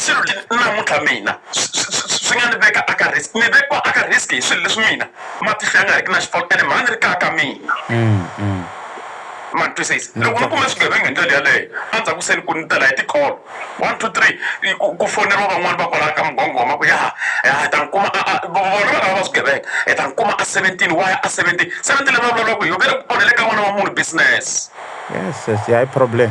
swilo leswi namuntlha mina swi nga ni veka a ka risk ni vekiwa a ka risk hi swilo leswi mina matihlo ya nga riki na xifaki ene mhani ri kaka mina mm, mm. ma twisisa loko ni kume swigevenga hi ndlela yaleyo endzhaku se ni ku ni tela hi tikholo one two three ku foneriwa van'wani va kwalaya ka mugongoma ku yaha yaha hi ta ni kuma vona valava va swigevenga hi ta ni kuma a seventeen wa ya a seventeen seventeen leyi va vulavula ku yo ve le ku onhele ka n'wana wa munhu business yes yes ya hi problem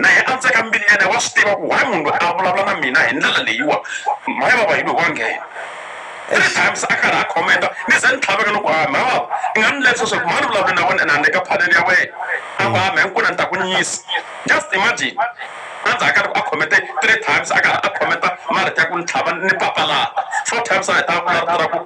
na yena a tsaka mbilu yena wa swi tiva ku why munhu loyi a vulavula na mina hi ndlela leyiwa mhaya vava hi loko wa nghena three times a karhi a khomenta ni ze ni tlhaveka loko a mhaya vava i nga ni lerisa swa ku mhani vulavula na wena ene a ni le ka phaleni ya wena a ku ha mhaya nkuna ni ta ku nyisa just imagine anza akari a khomete three times a karhi a khometa marito ya ku ni tlhava ni papalata four times a heta a vula rito ra ku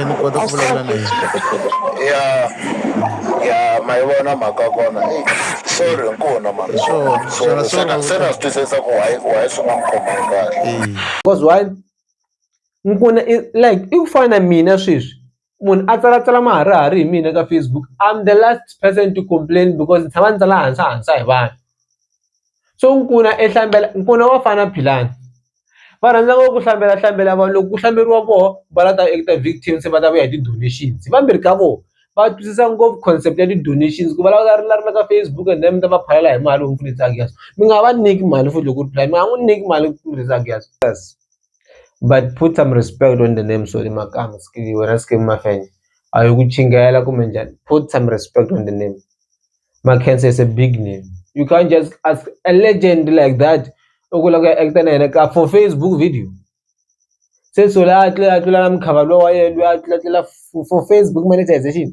e ni kota ku vulavula na yena ya ya ma yi vona mhaka kona eyi sorry nkuna mhaka Hi swona. Xana sorry sorry a wu se na ta- swi twisisa ku why why swi nga n'wi khomangi kahle Eh, because why nkuna i like i ku fana na mina sweswi munhu a tsalatsala maharihari hi mina ka facebook i'm the last person to complain because ni tshama ni tsala hansa hansa hi vanhu so nkuna ehlambela nkuna wa fana philani va rhandza ngopfu ku hlambela hlambela vanhu loko ku hlamberiwa voho va la ta act-a victim se va ta vuya hi ti-donations hi vambirhi ka vona va twisisa ngopfu concept ya ti-donations ku vulavula ri la ri la ka Facebook and then mi ta va phalela hi mali mi nga va nyiki mali futhi loko u ri mi nga n'wi nyiki mali but put some respect on the name sorry makamu wena Skeem Mafenya a hi ku chingela kumbe njhani put some respect on the name. Makhensa is a big name you can't just ask a legend like that u ku lava ku ya act na yena ka for Facebook video se so la tlula a tlula na mukhava lowa wa yena loyi a tlula tlula for Facebook monetization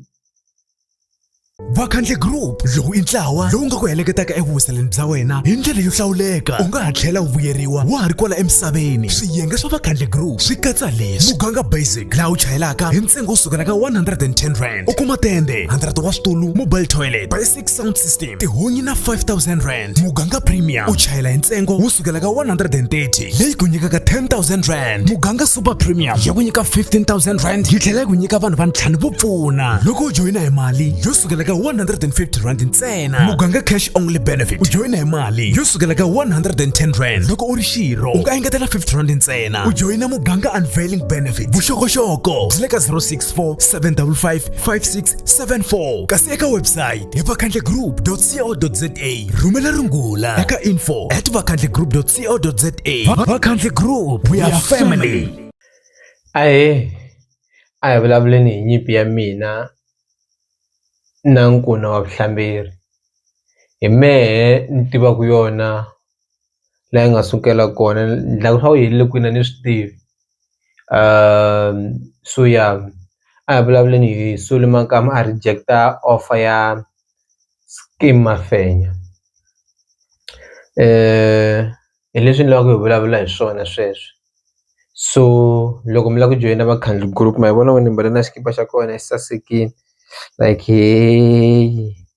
vakhandle group lowu i ntlawa lowu nga ku heleketaka evuhuseleni bya wena hi ndlela yo hlawuleka u nga ha tlhela u vuyeriwa wa ha ri kwala emisaveni swiyenge swa vakhandle group swi katsa leswi muganga basic laha u chayelaka hi ntsengo wo sukela ka 110 rand u kuma tende 100 wa switulu mobile toilet basic sound system tihunyi na 5000 rand muganga premium u chayela hi ntsengo wo sukela ka 130 leyi ku nyikaka 10000 rand muganga super premium ya ku nyika 15000 rand yi tlhela yi ku nyika vanhu va ntlhanu vo pfuna loko u joyina hi mali yo sukela ka 150 rand ntsena muganga cash only benefit u joyina hi mali yo sukela ka 110 rand loko u ri xirho u nga engetela 50 rand ntsena u joyina muganga unveiling benefit vuxokoxoko byi le ka 06 0754567674 kasi eka website hi vakhandlegroup.co.za rhumela rungula eka info at vakhandlegroup.co.za vakhandle group we are family ahe a hi vulavuleni hi nyimpi ya mina na nkuna wa vuhlamberi hi mehe ni tivaku yona laha yi nga sukela kona ni dlaku swa ku helele kwini a ni swi tivi Suya a hi vulavuleni hi Sule Makamu a reject-a offer ya Skeem Mafenya hi leswi ni lava ku hi vulavula hi swona sweswi so loko mi la ku joyina Vakhandli Group ma hi vona onge ni mbale na xikipa xa kona xi sasekini like heyii.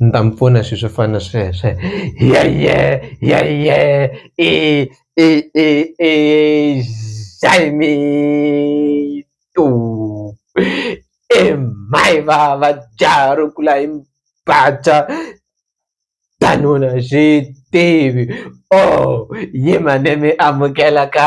ni ta mi pfuna hi swilo swo fana na sweswo hiya hiya hiya hiya i i i i i mhai vava jaha ro kula hi danuna a xi tivi ohh yima ni mi amukela ka .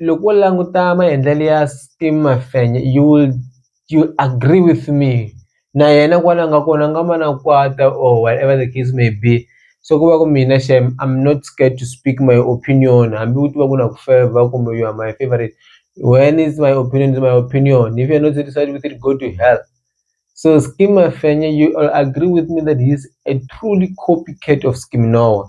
loko wo languta maendlelo ya Steve Mafenya you will you will agree with me na yena kwala a nga kona a nga ma na kwata or whatever the case may be se ku va ku mina xem I'm not scared to speak my opinion hambi u tiva ku na ku fevha kumbe you are my favorite when is my opinion is my opinion if you are not satisfied with it go to hell so Skeem Mafenya you will agree with me that he is a truly copy cat of Skeem Noah.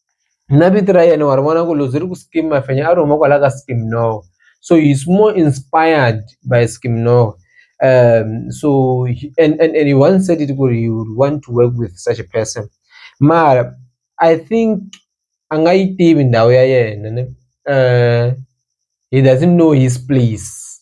na vito ra yena wa ri vona ku loko byi ri ku Skeem Mafenya a ri huma kwala ka Skeem no so he is more inspired by Skeem no so and and and he once said it ku ri he would want to work with such a person mara I think a nga yi tivi ndhawu ya yena ne he doesn't know his place.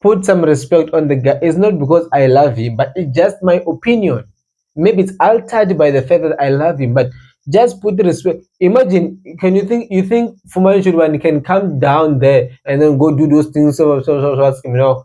put some respect on the guy it's not because i love him but it's just my opinion maybe it's altered by the fact that i love him but just put the respect imagine can you think you think Fumani Churubani can come down there and then go do those things so so so, so you know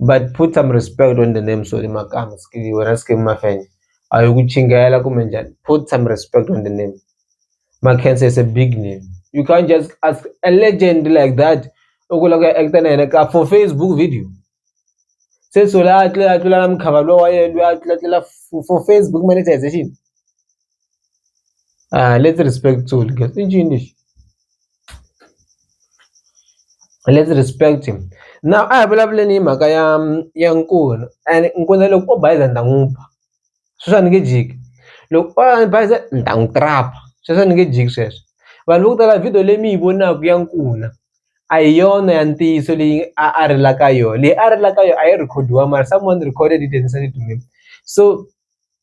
but put some respect on the name sorry makamu skili wena skili mafenya a hi ku chingela kumbe njhani put some respect on the name Mackenzie is a big name you can't just ask a legend like that u ku lava ku actor na yena ka for Facebook video se so la a tlula a tlula na mukhava lowa yena loyi a tlula tlula for Facebook monetization uh, let's respect Zulu guys in English let's respect him now a hi vulavuleni hi mhaka ya ya nkuna and nkuna loko o bayiza ni ta n'wi ba sweswi a ni nge jiki loko o bayiza ni ta n'wi trapa sweswi a ni nge jiki sweswo vanhu vo ku tala video leyi mi yi vonaka ya nkuna a hi yona ya ntiyiso leyi a a rilaka yona leyi a rilaka yona a yi rekhodiwa mara someone recorded it and sent it to me so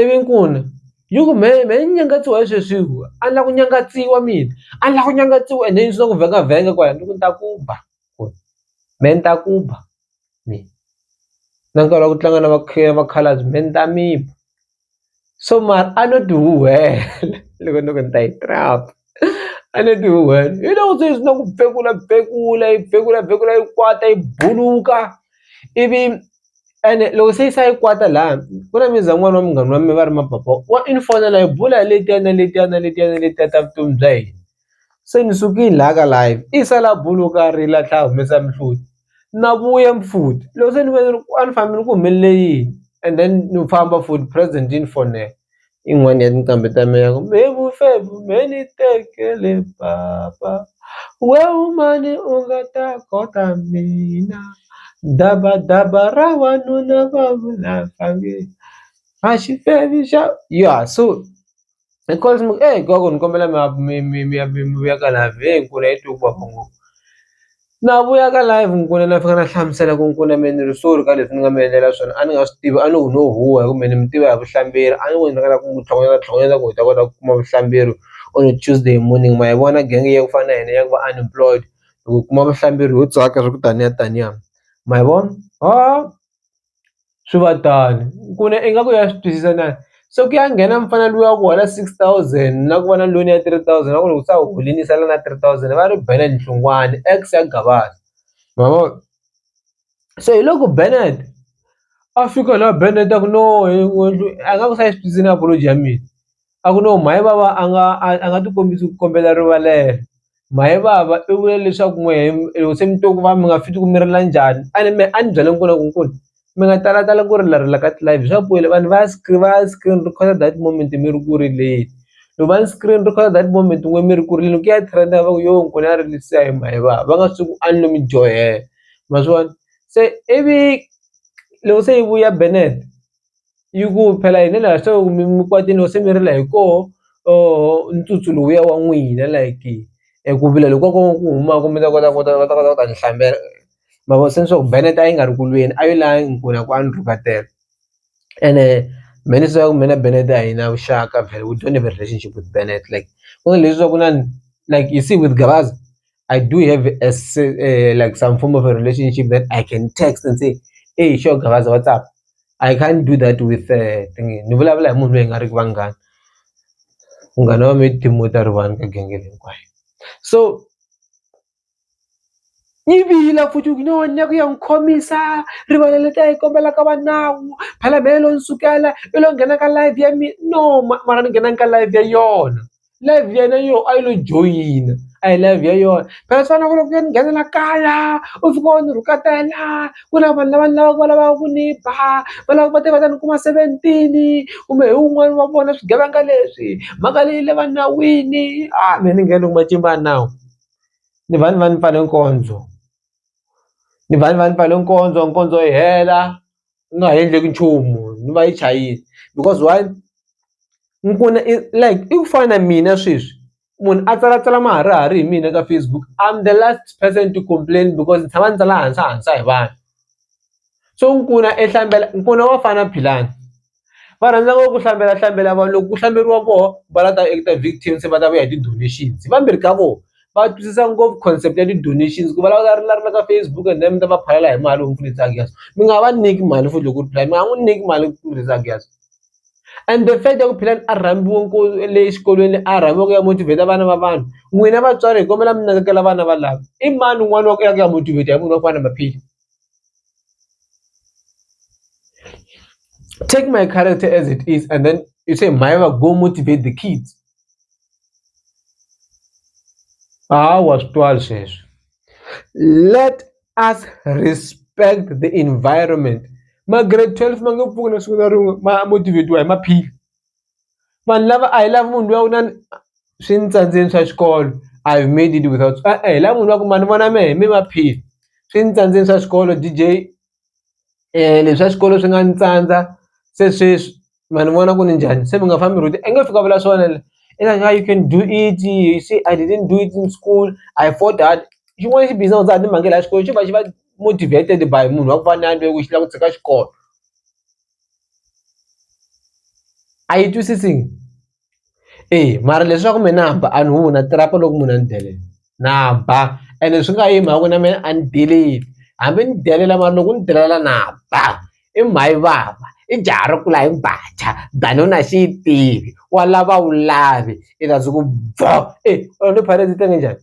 ivi ni ku n'wi yi ku me me ni nyangatsiwa hi sweswi hi ku a ni la ku nyangatsiwa mina a ni la ku nyangatsiwa ende ni swi tiva ku vhengha vhengha kwala ni ku ni ta ku ba ku ri me ni ta ku ba me na nkarhi wa ku tlanga na vakhalabye me ni ta mi ba so mara a no tihuwelela loko ni ku ni ta yi . a ni dyi wena hi loko se ni swi tiva ku phekula phekula yi phekula phekula yi kwata yi buluka ivi ene loko se yi se yi kwata laya ku na muzi wa n'wana wa munghana wa mina va ri mapapa wa i ni fonela hi bula hi letiya na letiya na letiya na letiya ta vutomi bya hina se ni sukile laya ka live i sala a buluka a rila a tlhe a humesa mihloti na vuya futhi loko se ni vona ni ri a ni fambi ni ku humelele yini and then ni famba futhi present yi ni fonela i yin'wani ya tinqambi ta mina ya ku me vufevhu me ni tekele papa we u mani u nga ta kota mina dabadaba ra wanuna va vula va nge a xi fevhi xa ya so hi ku ni kombela mi ya mi mi mi ya mi mi vuyela ka laha vhengele hi ku la yi twe ku vava ngopfu. na vuya ka live ni ku na fika na hlamusela ku ni ku na me ni ri sorry ka leswi ni nga mi endlela swona a ni nga swi tivi a ni ku no huhwa hi ku me ni mi tiva hi vuhlamberi a ni ku ni ringeta ku n'wi tlhogonyeta tlhogonyeta ku hi ta kota ku kuma vuhlamberi on a Tuesday morning ma yi vona gang ya ku fana na hina ya ku va unemployed hi ku kuma vuhlamberi ho tsaka swa ku taniya taniya ma yi vona . swi va tano ku na ingaku ya swi twisisa na se ku ya nghena mufana luya wa ku hola six thousand na ku va na loan ya three thousand va ku loko se a holini sala na three thousand va ri bela hi nhlokomhani ex ya gavaza ma vo se hi loko Bennet a fika la Bennet a ku no a nga ku se a yi swi twisisi na apology ya mina. a ku no mhani vava a nga a a nga ti kombisa ku kombela rivalelo mhani vava i vule leswaku n'we loko se mi twa ku vava mi nga fit ku mi rila njhani a ni me a ni byela nkuna ku nkuna mi nga talatali ku rila rila ka tilayini swa vanhu va ya va ya screen recorder that moment mi ri ku rileni loko va screen recorder that moment n'we mi ri ku rileni ku ya trend va ku yo nkuna a rilisa hi mhani vava va nga swi tivi ku a ni lo mi dyohela ma swi vona se ivi loko se yi vuya benete. yi ku phela hi ndlela ya swo mi kwate no se mi rila hi koho or ntsutsu lowuya wa n'wina like eku vula loko ko ku humaku mi ta kota ku ta va ta kota ku ta ni hlambela ma vo se ni swa ku Bennet a yi nga ri ku lweni a yo la hinkwerhu a ku a ni rhuketela ene me ni swi ku mina Bennet a hi na vuxaka we don't have a relationship with Bennet like leswaku na like you see with Gavaza I do have a, uh, like some form of a relationship that I can text and say hey sure gavaza what's up I can't do that with uh, thingy ni vulavula hi munhu loyi nga ri vanghana munghana wa mi timo ta ri vanhu ka genge hinkwayo so yi vila futhi ku no nyaku ya n'wi khomisa rivala leti a yi kombela ka va nawu phalamelo ni sukela i lo nghena ka live ya mina no mara ni nghenangi ka live ya yona live ya yena yo a yi lo joyina a hi live ya yona phela swi fanele ku loko ku ya ni nghena la kaya u fika u ni rhuketela ku na vanhu lava ni lavaka va lavaka ku ni ba va lava va te va ta ni kuma seventeen kumbe hi wun'wani wa vona swigevenga leswi mhaka leyi le va nawini a me ni nge ni matimba ya nawu ni va ni va ni pfale nkondzo ni va ni va ni pfale nkondzo nkondzo yi hela. u nga ha endleki nchumu ni va yi chayile because why ni ku na i like i ku fana na mina sweswi munhu a tsalatsala maharihari hi mina ka Facebook I'm the last person to complain because ni tshama ni tsala hansahansa hi vanhu so ni ku na ni ku na Bafana Philani. va rhandza ngopfu ku hlambela hlambela vanhu loko ku hlamberiwa voho va la ta act-a victim se va ta vuya hi ti-donations hi vambirhi ka vona va twisisa ngopfu concept ya ti-donations ku va lava ri la ri la ka Facebook and then mi ta va phalela hi mali mi pfunisa Giyani mi nga va nyiki mali futhi loko mi nga n'wi nyiki mali ku pfunisa Giyani and the fact ya ku Philani a rhambiwe le xikolweni a rhambiwe ku ya motivate-a vana va vanhu n'wina vatswari hi kombela mi nakekela vana valava i mani un'wana wa ku ya ku ya motivate-a hi munhu wa ku fana na Maphili. take my character as it is and then you say maiva go motivate the kids hawa switwali sweswo let us respect the environment ma-grade 12 ma nge pfuni siku na rin'we ma motivate-iwa hi maphili. vanhu lava a hi lavi munhu luya u na swi ni tsandzeni swa xikolo I have made it without e-e hi lava munhu luya ku ma ni vona mehe me maphili swi ni tsandzeni swa xikolo D_J leswi swa xikolo swi nga ni tsandza se sweswi ma ni vona ku ni njhani se mi nga fambi rude a nge fiki a vula swona la i ta ku hayi you can do it you see I didn't do it in school I fought hard xin'wana xi busy na ku dzaha timhange la xikolweni xi va xi va motivated by munhu wa ku fana na yena lweyi ku xi la ku tshika xikolo. a yi twisisi eya mara leswaku me na ba a ni humi na tirhaka loko munhu a ni delela na ba ene swi nga yi hi mhaka ku na me a ni deleli hambi ni delela mara loko u ni delela na ba i mhani yi vava i jaha ri kula hi mbhaca than u na xi yi tivi wa lava a wu lavi i ta ze ku bvoo e u ni phara ndzi tenge njhani.